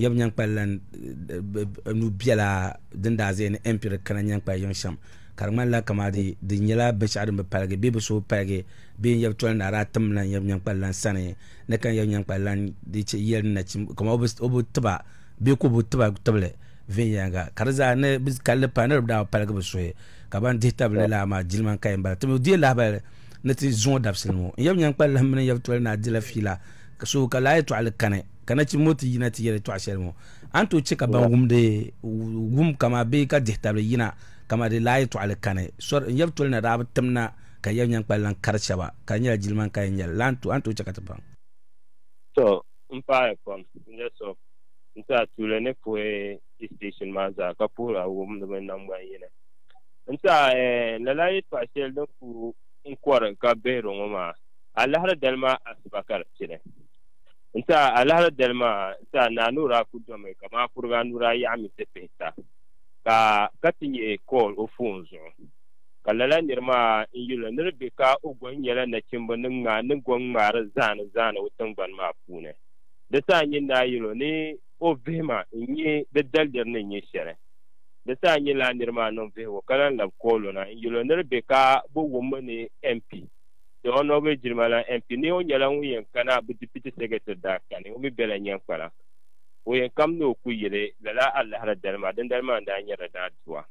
yɛbu nyankpali lan nu biɛla din daa zaya ni empire kana nyankpali yiŋ shɛm ka di ŋmanila kamadi di nyɛla binshɛɣu din bi paligi bee bi so paligi bee n-yɛbu toli ni adaa tim lan yɛbu nyankpali lan sani ni ka yɛbu nyankpali lan yɛli ni nachim kama o bi tiba bee ka o bi tiba tibili viɛnyɛliŋga ka di zaa ni bi kalli pa ni di daa paligi bi suhi ka ban dihi tabi ni laa maa jilima n-kaya m-bala timi deei lahibali ni ti zuŋɔ dabisili ŋɔ n-yɛbu nyankpali lahim mini n-yɛbu toli ni a dila fiila ka so ka laa yɛtɔɣili kani ka nachimbi ŋɔ ti yina ti yɛli tɔɣa shɛli ŋɔ a ni tooi chɛ ka ban wumdi wum kama bee ka dihi tabili yina kama di lahi tɔɣali kani sɔri n yɛbi toli na daa bi tim na ka yɛbi nyaŋ kpali lan kari shɛba ka di nyɛla jiliman ka yɛn nyɛli la a ni tooi chɛ ka ti baŋ To, m paai pam n nyɛ so n ti a tuuli ni puhi yi station maa zaa ka puhiri a wum ni mini naŋgban yini. N ti a eh, lala yɛtɔɣa shɛli din ku n kɔri ka bihiri ŋɔ maa, a lahiri dali maa asiba ka di pili. N ti a alahira dali maa, n ti a ni a ni o daa ku domi, ka maa kuriga anu daa yaɣi mi ti pihi ta, ka ka ti nyihi Kɔɔl o foon zuɣu. Ka lala nir maa n yuli ni di be ka o gɔhi nyɛla nachimba ni ŋmaa ni gɔŋ ŋmaari zaani zaani o tiŋgbani maa puuni. Di saha nyin daa yɛl o ni o vihi ma n-nyihi di daliri ni n-nyɛ shɛli. Di saha nyin lala nir maa niŋ vihigu ka lan lab Kɔɔl o na n yuli o ni di be ka bɛ wum mi ni MP. Di ɔnɔgiri jilima la MP ni o nyɛla ŋun yɛn kana bɛ dipiti sɛkɛtiri daa kani o mi bela nyɛn kpala o yɛn kam ni o ku yili lala alahira dali maa dindali maa daa nyɛla daa dua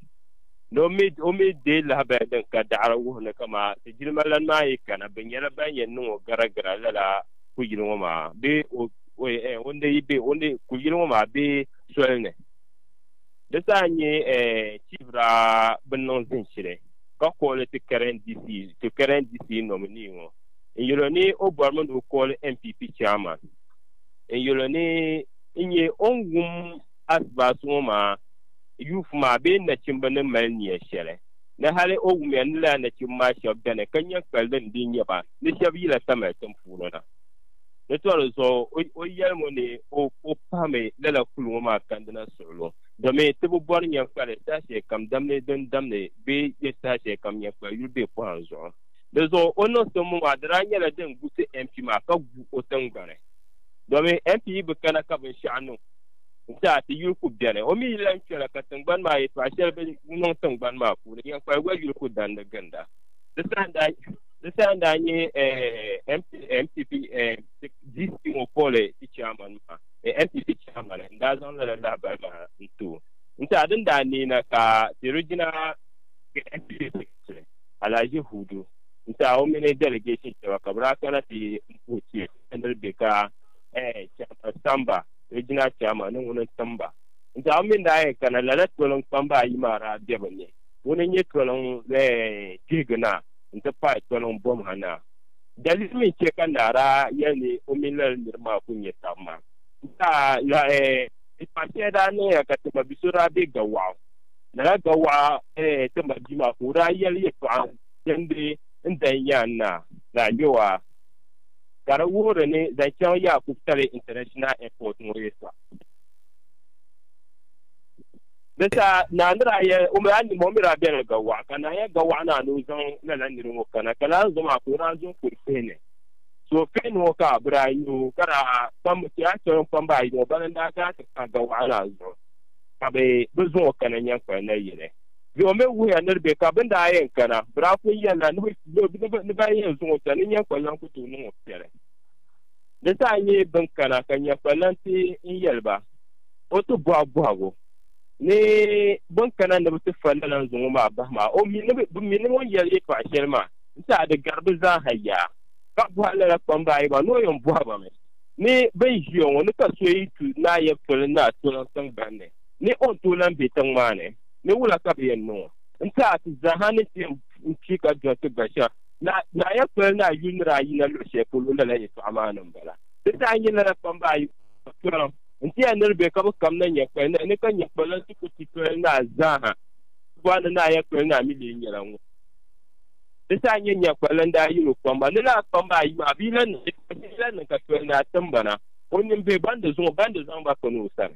ni o mi o mi deei lahabaya din ka daɣiri wuhi ni ka maa ti jilima lani maa yi kana bɛ nyɛla ban yɛn niŋ o gara gira lala ku yili ŋɔ maa bee o o eh o ni be o ni ku yili ŋɔ maa bee soli ni. Di daa nyɛ chibira bin niŋ zin shili ka kɔɔ li ti karen DC to karen DC nominee ŋɔ n yɛl o ni o bɔrimi ni o kɔɔli NPP chairman n yɛl o ni n nyɛ o ni wum asibaasi ŋɔ maa youth maa bee nachimba ni mali nia shɛli ni hali o wumya ni lala nachimba maa shɛb beni ka nyɛ kpalidinim din nyɛ ba ni shɛb yila tamali tin puuni na. Di tɔri zuɣu, o yɛlim o ni o pahimi lala kul ŋɔ maa kandina suɣulo, domi ti bi bɔri nyɛnkpali saha shɛli kam damdi din damdi bee yɛ saha shɛli kam nyɛnkpali yuli bee pɔhim zuɣu. Di zuɣu o niŋ simbu maa di daa nyɛla din gusi MP maa ka gu o tiŋgbani, domi MP yi bi kana ka binshɛɣu niŋ zaa ti yuli ku beni. O mi yi lan kpɛla ka tiŋgbani maa yɛtɔɣa shɛli bi niŋ tiŋgbani maa puuni, nyɛnkpali gba yuli ku dandi ginda. Di saha n-daa. Di saa n-daa nyɛ NPP DC ŋɔ poli ti chairman maa, NPP chairman n-daa zaŋ lala lahabali maa n-ti o nti a din daa neei na ka The Regional NPP Secretary, Alhaji Hudu n-ti a o mini delegation shɛba ka bɛ daa kana ti m-puhi Chief Henry Bekah, Chairman Samba, Regional Chairman ni ŋuni n-tim ba n-ti a o mi ni daa yɛn kana lala toliŋ kpamba ayi maa daa be bɛ ni, ŋuni n-nyɛ toliŋ kpihiginaa. nti pahi toliŋ bom ha na. Dali mi n-chɛ ka naa daa yɛli ni o mini lala nir maa ku nya tab maa. N daa lahi di paɣ shɛli daa niŋya ka ti ma bi so daa be Gawɔɣu. Lala Gawɔɣu ti ma bia maa ka o daa yɛli yɛtɔɣa dindi n dahi nya n naa daa ŋmɛ o a ka di wuhiri ni zaŋ chaŋ Yakub Tale International Airport ŋɔ yɛtɔɣa. Di sa, Naa ni daa yɛli o mi a nima o mi daa bela ga waɣa, ka naa yɛli ga waɣa naa ni o zaŋ lala niri ŋɔ kana, ka lala zo maa ka o daa zo n-kuri fihi ni. So fihi ni ŋɔ ka bɛ daa nya o, ka daa kpambi ti a shɛli o ni kpambi a yi ŋɔ, bana n-daa gaa ti pahi ga waɣa naa zuɣu, ka bɛ bi zaŋ o kana nyankpal nayili. Bɛ o mi wuhiya ni di be ka bɛ ni daa yɛn kana, bɛ daa pun yɛlila ni bɛ yɛn zaŋ o chaŋ ni nyankpal lan ku tooi niŋ o piɛli. Di zaa nyɛ bɛn kana ka nya kpalansi n-yɛli ba, O ti bɔhi bɔhigu ni bɛn kana ni bɛ ti fa lala n-zaŋ o maa bahi maa, o mi ni bɛ mi ni ŋun yɛli yɛtɔɣ shɛli maa n-ti a di gari bɛ zaa ha yaa, ka bɔhi lala kpamba ayi maa ni o yɛn bɔhi ba mi ni bɛn ʒiya ŋɔ ni ka so yi tu naayɛb toli ni a ti niŋ tiŋgbani ni ni o ni tooi lan be tiŋ maa ni, ni wula ka bɛ yɛn niŋ o n-ti a ti zaa ha ni ti yɛn pii ka dɔnti gba shɛm. Naa ya pali ni a yuli ni daa yina luɣ shɛli polo lala yɛtɔɣa maa ni m-bala. Di daa nyɛ lala kpamba ayi tɔliŋ nti ya nir bɛ ka bɛ kam na nya kpali naa ni ka nya kpaliŋ ti ku ti tɔli naa zaaha ti bɔri ni naa ya kpali naa mi lee nyɛla ŋun di daa nyɛ nya kpaliŋ daa yini o kpamba ni lala kpamba ayi maa bɛ yi lan niŋ shɛlikam bɛ yi lan niŋ ka tɔli naa timbana o nimbihi ban di zuŋ o ban di zaŋ ba kani o sani.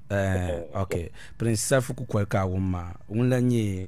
Eh, ok. Prince Safu kukoli ka a wum maa. Ŋun la nyɛ